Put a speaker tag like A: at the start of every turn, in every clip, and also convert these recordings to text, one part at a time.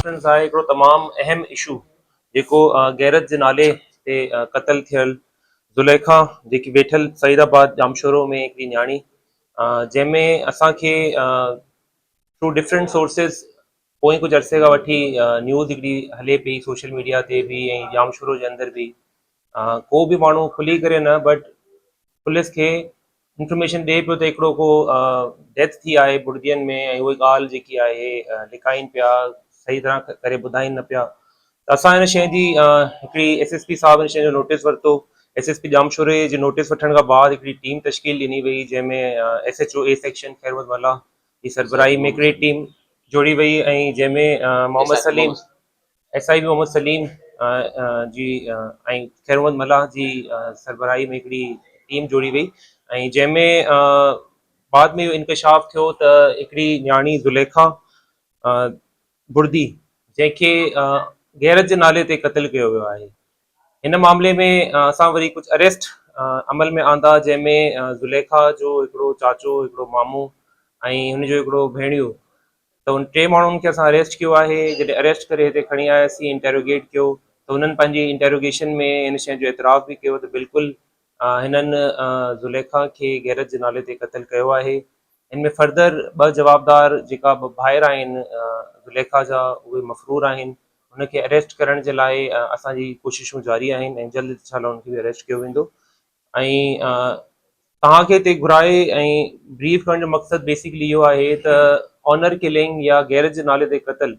A: Captain صاحب هڪڙو تمام اهم اشو جيڪو غيرت جي نالي تي قتل ٿيل زليخا جيڪي ويٺل سعيد آباد ڄامشورو ۾ هڪڙي نياڻي جنهن ۾ اسان کي ٿرو ڊفرنٽ سورسز پوئين ڪجهه عرصي کان وٺي نيوز هڪڙي هلي پئي سوشل ميڊيا تي به ۽ ڄامشورو جي اندر به ڪو به ماڻهو کلي ڪري نه بٽ پوليس کي انفرميشن ڏئي پيو ته هڪڙو ڪو ڊيٿ ٿي آهي بڙدين ۾ ۽ اهي ڳالهه جيڪي آهي لڪائين پيا صحيح طرح ڪري ٻڌائين نه پيا ته اسان هن شيء جي هڪڙي ايس ايس پي صاحب هن شيء جو نوٽيس ورتو ايس ايس پي ڄامشوري جي نوٽيس وٺڻ کان بعد هڪڙي ٽيم تشڪيل ڏني وئي جنهن ۾ S H O A section Khair Muhammad Mallah جي سربراهي ۾ هڪڙي ٽيم جوڙي وئي ۽ جنهن ۾ Muhammad Saleem S I B Muhammad Saleem جي ۽ خيرمحمد ملاح جي سربراهي ۾ هڪڙي ٽيم جوڙي وئي ۽ جنهن ۾ بعد ۾ اهو انڪشاف ٿيو ته هڪڙي نياڻي زليخا بڙدي جنهن کي غيرت جي نالي تي قتل ڪيو ويو آهي هن معاملي ۾ اسان وري ڪجهه اريسٽ عمل ۾ آندا جنهن ۾ زليخا جو هڪڙو چاچو هڪڙو مامو ۽ هن جو هڪڙو ڀيڻيو ته ان ٽي ماڻهن کي اسان اريسٽ ڪيو آهي جڏهن اريسٽ ڪري هتي کڻي آياسين انٽروگيٽ ڪيو ته هنن پنهنجي انٽروگيشن ۾ هن شين جو اعتراف به ڪيو ته بلڪل هنن زليخا کي غيرت جي نالي تي قتل ڪيو آهي هن ۾ فردر ٻه جوابدار جيڪا ٻه ڀائر آهن زليخا جا اهي مفرور آهن هن کي اريسٽ ڪرڻ جي لاء اسان جي ڪوششون جاري آهن ۽ جلد انشاء الله هن کي به اريسٽ ڪيو ويندو ۽ توهان کي هتي گهرائي ۽ بريف ڪرڻ جو مقصد بيسڪلي اهو آهي ته آنر ڪلنگ يا غيرت جي نالي تي قتل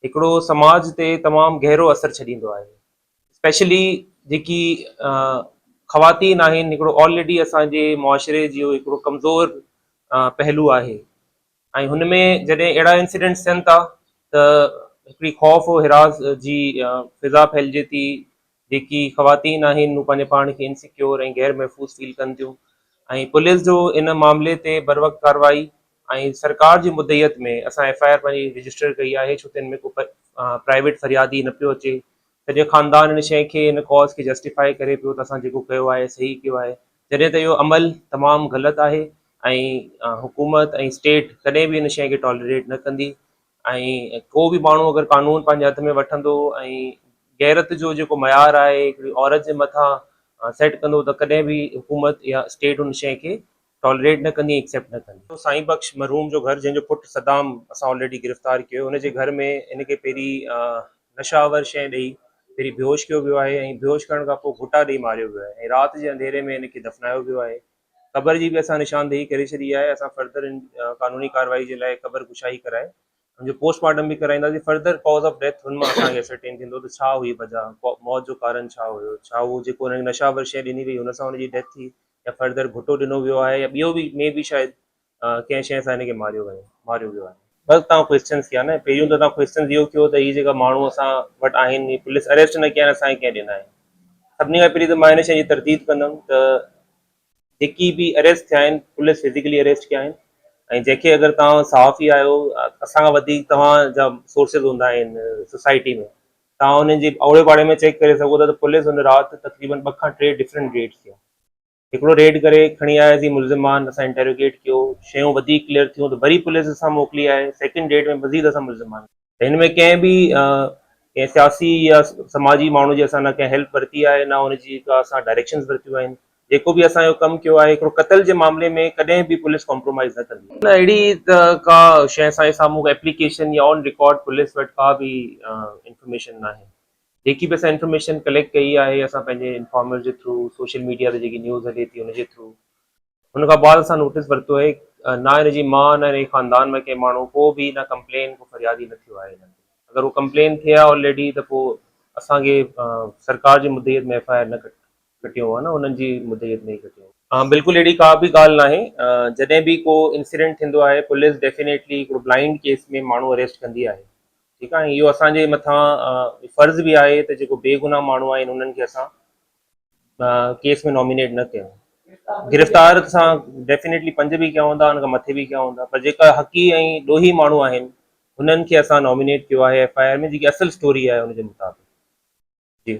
A: هڪڙو سماج تي تمام گهرو اثر ڇڏيندو آهي اسپيشلي جيڪي خواتين آهن هڪڙو آلريڊي اسان جي معاشري جو هڪڙو ڪمزور پهلو آهي ۽ هن ۾ جڏهن اهڙا انسيڊنٽس ٿين ٿا ته هڪڙي خوف و حراس جي فضا ڦهلجي ٿي جيڪي خواتين آهن هو پنهنجي پاڻ کي انسيڪيور ۽ غير محفوظ فيل ڪن ٿيون ۽ پوليس جو ان معاملي تي بر وقت ڪارروائي ۽ سرڪار جي مدعيت ۾ اسان ايف آء آر پنهنجي رجسٽر ڪئي آهي ڇو ته ان ۾ ڪو پرائيويٽ فريادي نه پيو اچي سڄي خاندان ان شئي کي ان ڪاز کي جسٽيفاء ڪري پيو ته اسان جيڪو ڪيو آهي صحيح ڪيو آهي جڏهن ته اهو عمل تمام غلط آهي ۽ حڪومت ۽ اسٽيٽ ڪڏهن به ان شئي کي ٽالريٽ نه ڪندي ۽ ڪو به ماڻهو اگر قانون پنهنجي هٿ ۾ وٺندو ۽ غيرت جو جيڪو معيار آهي هڪڙي عورت جي مٿان سيٽ ڪندو ته ڪڏهن به حڪومت يا اسٽيٽ ان شئي کي ٽالريٽ نه ڪندي ايڪسيپٽ نه ڪندي. سائين بخش مرحوم جو گهر جنهن جو پٽ صدام اسان آلريڊي گرفتار ڪيو ان جي گهر ۾ ان کي پهرين نشه آور شئي ڏئي پهرين بيهوش ڪيو ويو آهي ۽ بيهوش ڪرڻ کان پوء گهوٽا ڏئي ماريو ويو آهي ۽ رات جي انڌيري ۾ ان کي دفنايو ويو آهي قبر جي به اسان نشاندهي ڪري ڇڏي آهي اسان فرڌر قانوني ڪارروائي جي لاء قبر ڪشائي ڪرائي ان جو پوسٽ مارٽم به ڪرائينداسين، فردر ڪاز آف ڊيٿ ان مان اسان کي اسرٽين ٿيندو ته ڇا هئي بجا، موت جو ڪارڻ ڇا هيو، ڇا اهو جيڪو هن کي نشاور شيء ڏني وئي هن سان هن جي ڊيٿ ٿي يا فردر گهٽو ڏنو ويو آهي يا ٻيو به مي بي شايد ڪنهن شيء سان هن کي ماريو ويو ماريو ويو آهي. بس تان ڪوئسچنس ٿيا نه، پهريون ته تان ڪوئسچنس اهو ٿيو ته هي جيڪا ماڻهو اسان وٽ آهن هي پوليس اريسٽ نه ڪيا آهن اسان کي ڪنهن ڏنا آهن، سڀني کان پهرين ته مان هن شيء جي ترديد ڪندم ته جيڪي به اريسٽ ٿيا آهن پوليس فزيڪلي اريسٽ ڪيا آهن ۽ جنهن کي اگر توهان صحافي آهيو اسان کان وڌيڪ توهان جا سورسز هوندا آهن سوسائٽي ۾ توهان انهن جي اوڙي پاڙي ۾ چيڪ ڪري سگهو ٿا ته پوليس ان رات تقريبن ٻه کان ٽي ڊفرنٽ ريڊ ڪيا هڪڙو ريڊ ڪري کڻي آيا سي ملزمان اسان انٽروگيٽ ڪيو شيون وڌيڪ ڪليئر ٿيون ته وري پوليس اسان موڪلي آهي سيڪنڊ ريڊ ۾ مزيد اسان ملزمان هن ۾ ڪنهن به ڪنهن سياسي يا سماجي ماڻهو جي اسان نه ڪنهن هيلپ ورتي آهي نه ان جي ڪا اسان ڊائريڪشنز ورتيون آهن جيڪو به اسان جو ڪم ڪيو آهي هڪڙو قتل جي معاملي ۾ ڪڏهن به پوليس ڪامپرومائيز نه ڪندي نه اهڙي ته ڪا شيء اسان جي سامهون ڪا ايپليڪيشن يا آن رڪارڊ پوليس وٽ ڪا به انفارميشن ناهي جيڪي به اسان انفارميشن ڪليڪٽ ڪئي آهي اسان پنهنجي انفارمر جي ٿرو سوشل ميڊيا تي جيڪي نيوز هلي ٿي ان جي ٿرو ان کان بعد اسان نوٽيس ورتو آهي نه هن جي مان نه هن خاندان ۾ ڪنهن ماڻهو ڪو به نه ڪمپلين ڪو فريادي نه ٿيو آهي انهن تي اگر هو ڪمپلين ٿئي ها آلريڊي ته پوء اسان کي سرڪار جي مدعيت ۾ ايف آء آر نه ڪٽيون ها نه انهن جي مدعيت ۾ ئي ڪٽيون ها. ها بلڪل اهڙي ڪا به ڳالهه ناهي جڏهن به ڪو انسيڊنٽ ٿيندو آهي پوليس ڊيفينيٽلي هڪڙو بلائنڊ ڪيس ۾ ماڻهو اريسٽ ڪندي آهي ٺيڪ آهي اهو اسان جي مٿان فرض به آهي ته جيڪو بي گناهه ماڻهو آهن انهن کي اسان ڪيس ۾ نامينيٽ نه ڪيو گرفتار سان ڊيفينيٽلي پنج به ڪيا هوندا ان کان مٿي به ڪيا هوندا پر جيڪا حقي ۽ ڏوهي ماڻهو آهن هنن کي اسان نامينيٽ ڪيو آهي ايف آء آر ۾ جيڪي اصل اسٽوري آهي ان جي مطابق جي